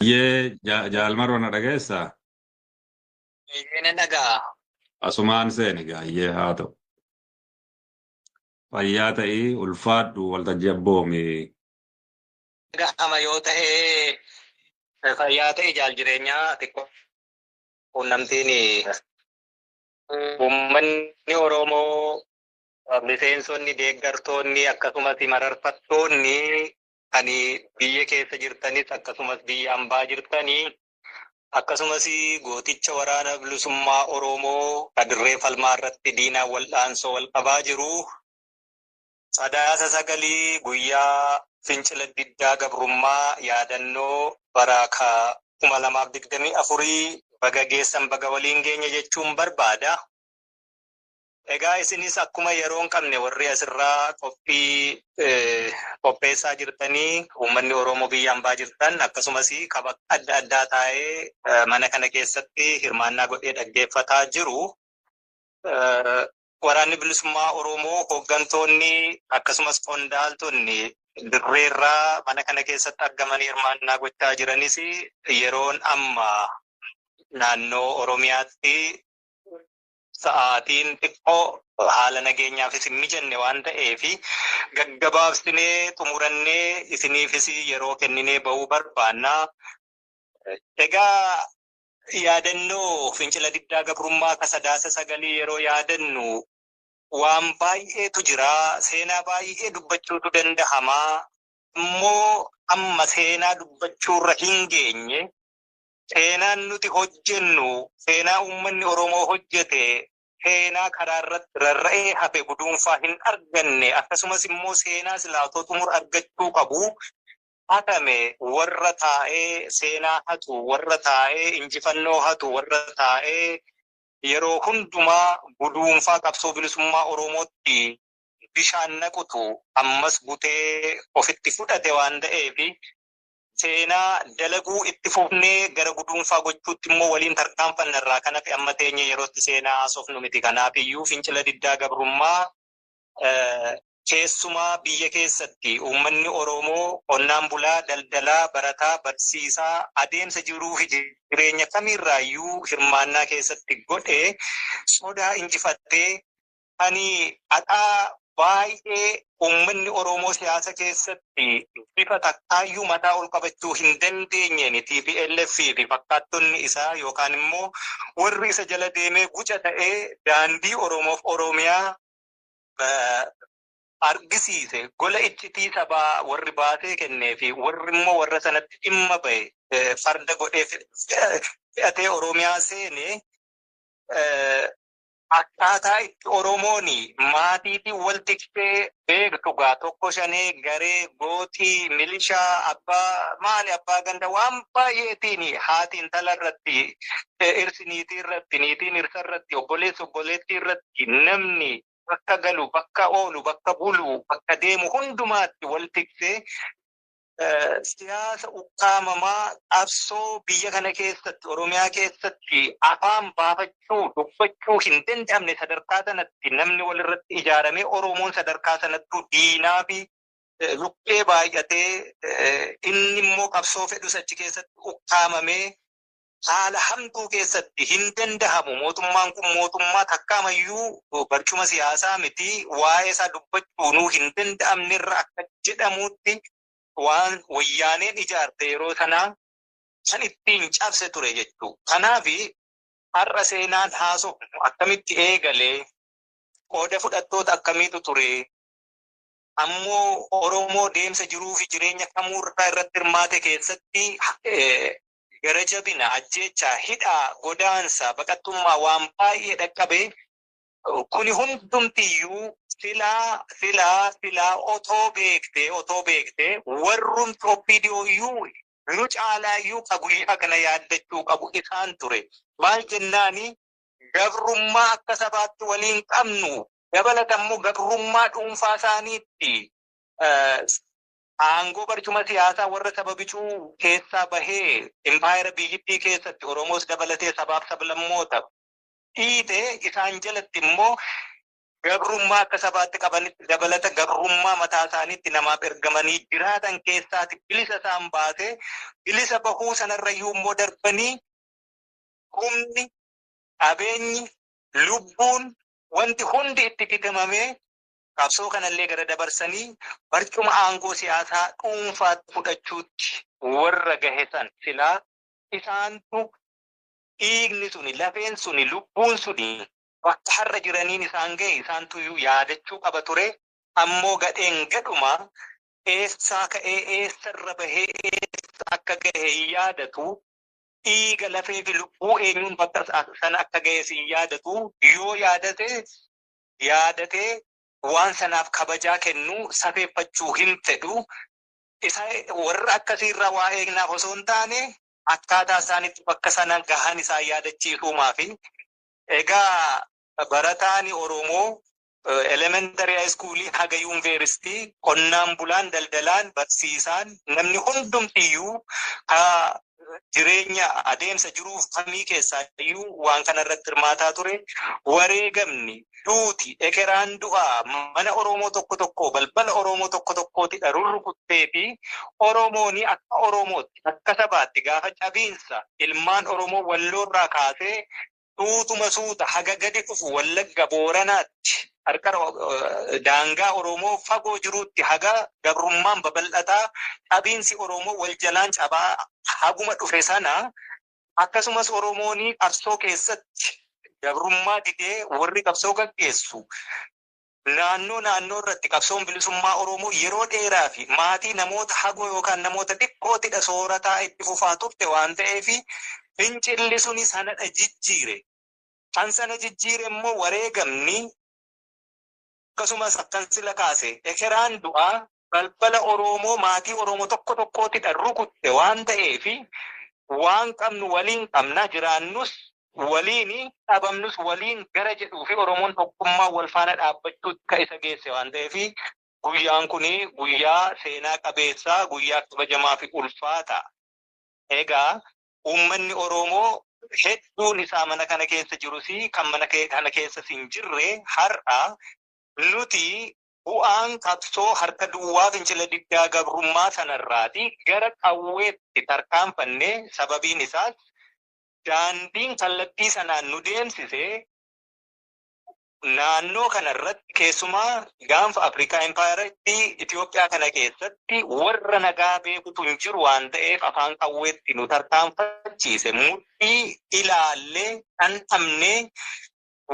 Hayyee ja- jaal maroo na dhageessa Eeyyee nan dhaga'a. asumaan seeni gaayyee haa ta'u fayyaa ta'ii ulfaadhu waltajjii abboomi Dhaga'ama yoo ta'e fayyaa ta'e jaal jireenyaa xiqqoo quunnamtiin uummanni Oromoo miseensonni deeggartoonni akkasumas mararfattoonni Ani biyya keessa jirtanis akkasumas biyya ambaa jirtanii akkasumas gooticha waraana bilisummaa Oromoo ka dirree falmaa irratti diinaan wal'aansoo wal qabaa jiru sadaasa sagalii guyyaa fincila diddaa gabrummaa yaadannoo baraa ka kuma lamaaf digdamii afurii baga geessan baga waliin geenye jechuun barbaada. Egaa isinis akkuma yeroo hin qabne warri asirraa qophii qopheessaa jirtanii uummanni Oromoo biyya ambaa jirtan akkasumas kaba adda addaa taa'ee mana kana keessatti hirmaannaa godhee dhaggeeffataa jiru. Waraanni bilisummaa Oromoo hooggantoonni akkasumas qondaaltonni dirreerraa mana kana keessatti argamanii hirmaannaa gochaa jiranis yeroon amma naannoo Oromiyaatti sa'aatiin xiqqoo haala nageenyaafis hin mijanne waan ta'eef gaggabaabsinee xumurannee isiniifis yeroo kenninee ba'uu barbaanna. Egaa yaadannoo fincila diddaa gabrummaa ka sadaasa sagalii yeroo yaadannu waan baay'eetu jira. Seenaa baay'ee dubbachuutu danda'ama. Immoo amma seenaa dubbachuurra hin geenye. Seenaan nuti hojjennu seenaa uummanni Oromoo hojjete, seenaa karaa irratti rarra'ee hafe guduunfaa hin arganne akkasumas immoo seenaa silaa otoo xumura argachuu qabu hatame warra taa'ee seenaa hatu, warra taa'ee injifannoo hatu, warra taa'ee yeroo hundumaa guduunfaa qabsoo bilisummaa Oromootti bishaan naqutu ammas butee ofitti fudhate waan ta'eef Seenaa dalaguu itti fufnee gara guduunfaa gochuutti immoo waliin tarkaanfanna irraa kan hafe amma teenyee yerootti seenaa haasofnu miti. Kanaafiyyuu fincila diddaa gabrummaa keessumaa biyya keessatti uummanni Oromoo qonnaan bulaa, daldalaa, barataa, barsiisaa adeemsa jiruufi jireenya kamiirraayyuu hirmaannaa keessatti godhe sodaa injifatee Ani adhaa baay'ee uummanni Oromoo siyaasa keessatti bifa takkaayyuu mataa ol qabachuu hin dandeenyeen tplf fi fakkaattonni isaa yookaan immoo warri isa jala deemee guca ta'ee daandii Oromoof Oromiyaa argisiise gola iccitii sabaa warri baasee kennee fi warri immoo warra sanatti dhimma ba'e farda godhee fe'atee Oromiyaa seene Akkaataa itti oromooni maatiitiin wal tiksee beektu gaa tokko shanee garee gooxii milishaa abbaa maali abbaa ganda waan baay'eetiini haati intala irratti dhirsi niitii irratti niitiin dhirsa irratti obboleessi obboleettii irratti namni bakka galu bakka oolu bakka bulu bakka deemu hundumaatti wal tiksee siyaasa ukkaamamaa qabsoo biyya kana keessatti Oromiyaa keessatti afaan baafachuu dubbachuu hin danda'amne sadarkaa sanatti namni walirratti ijaaramee Oromoon sadarkaa sanattuu diinaa fi lukkee baay'atee inni immoo qabsoo fedhus achi keessatti ukkaamamee haala hamtuu keessatti hin dandahamu. Mootummaan kun mootummaa takkaamayyuu barcuma siyaasaa miti waa'ee isaa dubbachuunuu hin danda'amne irra akka jedhamuutti waan wayyaaneen ijaarte yeroo sanaa kan ittiin cabse ture jechuu. Kanaaf har'a seenaan haasofnu akkamitti eegale, qooda fudhattoota akkamiitu ture, ammoo Oromoo deemsa jiruu fi jireenya kamuurraa irratti hirmaate keessatti gara jabina, ajjeechaa, hidhaa, godaansa, baqattummaa waan baay'ee dhaqqabe. Kuni hundumtiyyuu silaa silaa silaa otoo beektee otoo beektee warrumti OPDO iyyuu nu caalaa iyyuu ka guyyaa kana yaaddachuu qabu isaan ture. Maal jennaani gabrummaa akka sabaatti waliin qabnu dabalata immoo gabrummaa dhuunfaa isaaniitti Aangoo barcuma siyaasaa warra saba bicuu keessaa bahee impaayera biyyittii keessatti Oromoos dabalatee sabaaf sablammoota dhiite isaan jalatti immoo gabrummaa akka sabaatti qabanitti dabalata gabrummaa mataa isaaniitti namaaf ergamanii jiraatan keessaati bilisa isaan baase. Bilisa bahuu sanarrayyuu immoo darbanii humni, qabeenyi, lubbuun wanti hundi itti bitamamee qabsoo kanallee gara dabarsanii barcuma aangoo siyaasaa dhuunfaatti fudhachuutti warra gahe san silaa isaantu dhiigni suni, lafeen suni, lubbuun suni bakka har'a jiraniin isaan gahe isaantuyyuu yaadachuu qaba ture. Ammoo gadheen gadhuma eessaa ka'ee eessarra bahee eessa akka gahe hin yaadatu. Dhiiga, lafeefi lubbuu eenyuun bakka sana akka gahes hin yaadatu. Yoo yaadate yaadatee waan sanaaf kabajaa kennu safeeffachuu hin fedhu. Isa warra akkasii irraa waa eegnaaf osoo hin taane akkaataa isaan itti bakka sana gahan isaan yaadachiisuumaafi. Egaa barataan Oromoo elementary high school haga yuunveeristii qonnaan bulaan, daldalaan, barsiisaan namni hundumtiyyuu ka jireenya adeemsa jiruuf kamii keessaa iyyuu waan kana irratti hirmaataa ture. Wareegamni, duuti, ekeraan du'aa mana Oromoo tokko tokkoo, balbala Oromoo tokko tokkootidha rurrukuttee fi Oromooni akka Oromootti, akka sabaatti gaafa cabiinsa ilmaan Oromoo Walloo irraa kaasee suutuma suuta haga gadi dhufu Wallagga Booranaatti, qarqara daangaa Oromoo fagoo jiruutti haga gabrummaan babal'ataa, cabiinsi Oromoo wal jalaan cabaa haguma dhufe sana, akkasumas Oromooni qabsoo keessatti gabrummaa didee warri qabsoo gaggeessu Naannoo naannoo irratti qabsoon bilisummaa Oromoo yeroo dheeraa fi maatii namoota hagoo yookaan namoota xiqqootidha soorataa itti fufaa turte waan ta'eef fincilli suni sanadha jijjiire. Kan sana jijjiire immoo wareegamni akkasumas akkan sila kaase ekeraan du'aa balbala Oroomoo maatii Oroomo tokko tokkootidha rukutte waan ta'eefi waan qabnu waliin qabna jiraannus waliini dhabamnus waliin gara jedhuufi Oromoon tokkummaan wal faana dhaabbachuutti ka isa geesse waan ta'eefi guyyaan kuni guyyaa seenaa qabeessa guyyaa kabajamaafi ulfaata. Egaa uummanni Oroomoo hedduun isaa mana kana keessa jirusi kan mana kana keessas hin jirre har'a nuti Bu'aan qabsoo harka duwwaa fincila diddaa gabrummaa sanarraati gara qawweetti tarkaanfanne, sababiin isaas daandiin kallattii sanaan nu deemsise naannoo kanarratti keessumaa gaanfa Afrikaa Impaayera Itiyoophiyaa kana keessatti warra nagaa beekutu hin jiru waan ta'eef afaan qawweetti nu tarkaanfachiise mudhii ilaallee dhandhamnee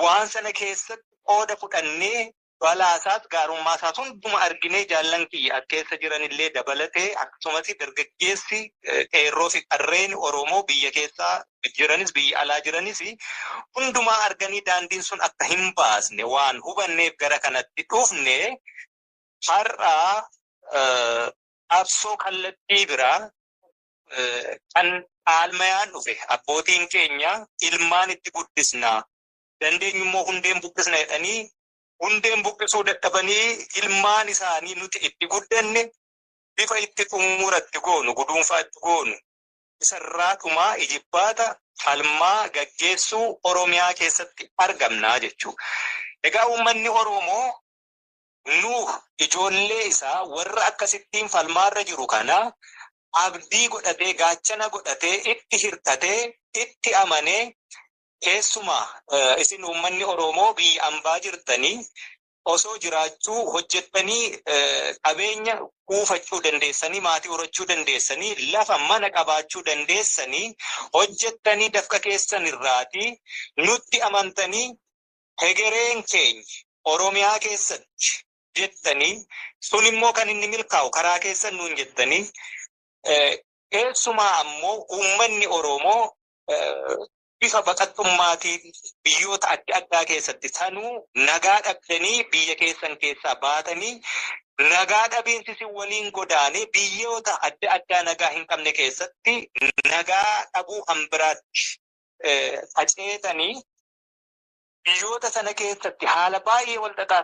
waan sana keessatti qooda fudhannee Balaasaas gaarummaasaas hunduma arginee jaallan kiyya as keessa jiranillee dabalatee akkasumas dargaggeessi qeerroo fi qarreen Oromoo biyya keessa jiranis biyya alaa jiranis hundumaa arganii daandiin sun akka hin baasne waan hubanneef gara kanatti dhufne har'a qabsoo kallattii biraa kan dhaalmayaan dhufe abbootiin keenya ilmaan itti guddisna dandeenyu immoo hundeen buqqisna jedhanii hundeen buqqisuu dadhabanii ilmaan isaanii nuti itti guddanne bifa itti xumura itti goonu guduunfaa itti goonu isarraa dhumaa ijibbaata falmaa gaggeessuu Oromiyaa keessatti argamnaa jechuu. Egaa uummanni Oromoo nu ijoollee isaa warra akkasittiin falmaarra jiru kana abdii godhatee gaachana godhatee itti hirkatee itti amanee Keessumaa isin uummanni Oromoo biyya ambaa jirtanii osoo jiraachuu hojjettanii qabeenya kuufachuu dandeessanii maatii horachuu dandeessanii lafa mana qabaachuu dandeessanii hojjettanii dafqa keessan irraatii nutti amantanii hegereen keenya Oromiyaa keessatti jettanii sun immoo kan inni milkaa'u karaa keessan nuun jettanii keessumaa ammoo uummanni Oromoo bifa baqattummaatiin biyyoota adda addaa keessatti sanuu nagaa dhabdanii biyya keessan keessaa baatanii nagaa dhabiinsi si waliin godaane biyyoota adda addaa nagaa hin qabne keessatti nagaa dhabuu kan biraatti faceetanii biyyoota sana keessatti haala baay'ee wal xaxaa